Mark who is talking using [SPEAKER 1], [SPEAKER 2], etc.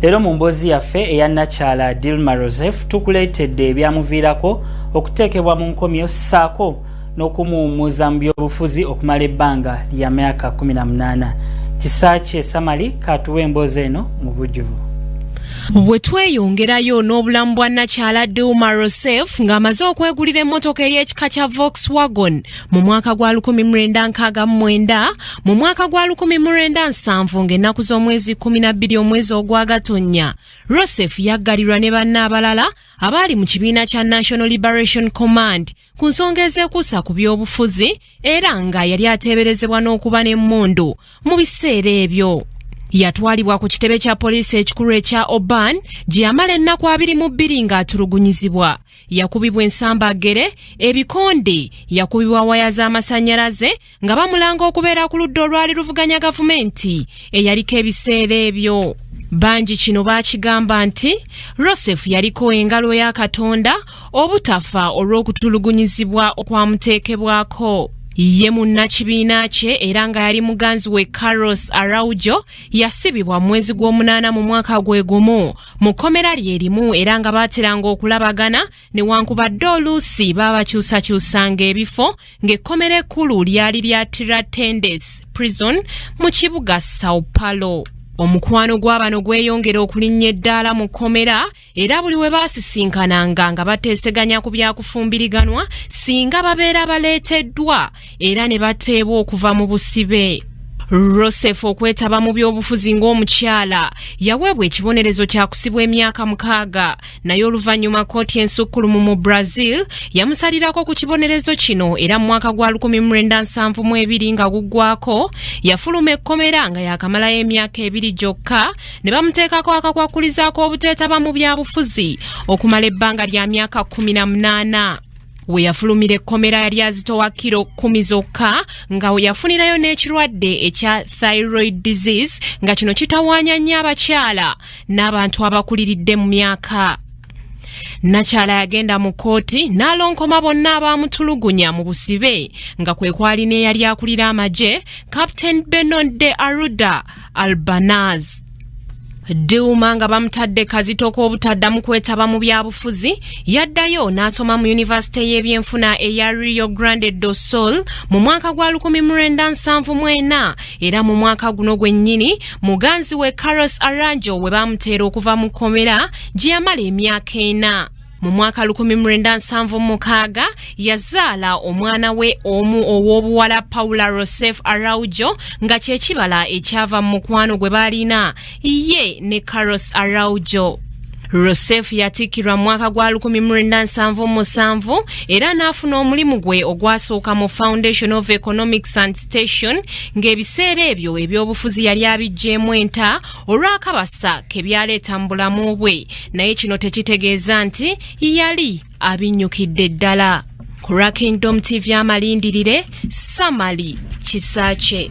[SPEAKER 1] leero mu mboozi yaffe eya nakyala dilma roseph tukuleetedde ebyamuviirako okuteekebwa mu nkomyo ssaako n'okumuwummuza mu byobufuzi okumala ebbanga lya myaka 18 kisaakye samali katuwa emboozi eno mu bujjuvu bwe
[SPEAKER 2] tweyongerayo n'obulamu bwa nakyala dilma rosef ng'amaze okwegulira emmotoka ey'ekika kya volkswagon mu mwaka gwa 1969 mu mwaka gwa 1970 ng'ennaku z'omwezi 12 omwezi ogwagatonnya rosef yaggalirwa ne banna abalala abaali mu kibiina kya national liberation command ku nsonga ezeekuusa ku by'obufuzi era nga yali ateeberezebwa n'okuba n'emmundu mu biseera ebyo yatwalibwa ku kitebe kya poliisi ekikulu ekya oban gye yamala ennaku abiri mu bbiri ng'atulugunyizibwa yakubibwa ensambaggere ebikonde yakubibwa waya z'amasannyalaze nga bamulanga okubeera ku ludda olwali luvuganya gavumenti eyaliko ebiseera ebyo bangi kino baakigamba nti rosefu yaliko engalo ya katonda obutafa olw'okutulugunyizibwa okwamuteekebwako ye munnakibiina kye era nga yali muganzi we carlos araujo yasibibwa mu mwezi gw'omunaana mu mwaka gwe gumu mu kkomera lye limu era nga baateranga okulabagana newankubadde oluusi baabakyusakyusanga ebifo ng'ekkomera ekkulu lyali lya tiratendes prison mu kibuga sao paulo omukwano gw'abano gweyongera okulinnya eddaala mu kkomera era buli we baasisinkananga nga bateeseganya ku byakufumbiriganwa singa babeera baleeteddwa era ne bateebwa okuva mu busibe rosef okwetaba mu byobufuzi ng'omukyala yaweebwa ekibonerezo kyakusibwa emyaka mukaaga naye oluvannyuma kooti ensukkulumu mu brazil yamusalirako ku kibonerezo kino era mu mwaka gwa 1972 nga guggwako yafuluma ekkomera nga yakamalayo emyaka ebiri gyokka ne bamuteekako akakwakkulizaako obuteetaba mu byabufuzi okumala ebbanga lya myaka 18 we yafulumira ekkomera lya zitowa kiro kkumi zokka nga we yafunirayo n'ekirwadde ekya thyroid disease nga kino kitawaanya nnyo abakyala n'abantu abakuliridde mu myaka nakyala yagenda mu kkooti n'alonkoma bonna abaamutulugunya mu busibe nga kwe kwali n'eyali akulira amagye captain benonde aruda albanaz Duma nga bamutadde kazito k'obutaddamu kwetaba mu byabufuzi yaddayo n'asoma mu yunivasite y'ebyenfuna eya Rio Grande do Sul mu mwaka gwa 1974 era mu mwaka guno gwennyini muganzi we Carlos Aranjo we baamuteera okuva mu kkomera gye yamala emyaka ena. mu mwaka 1976 yazaala omwana we omu ow'obuwala paula rosef araujo nga kyekibala ekyava mu mukwano gwe baalina ye ne caros araujo rosef yatikkirwa mu mwaka gwa 1977 era n'afuna omulimu gwe ogwasooka mu foundation of economics and station ng'ebiseera ebyo ebyobufuzi yali abijjeemu enta olw'akabasa ke byaleeta mu bulamu bwe naye kino tekitegeeza nti yali abinnyukidde ddala ku lwa kingdom tv amalindirire samali kisaakye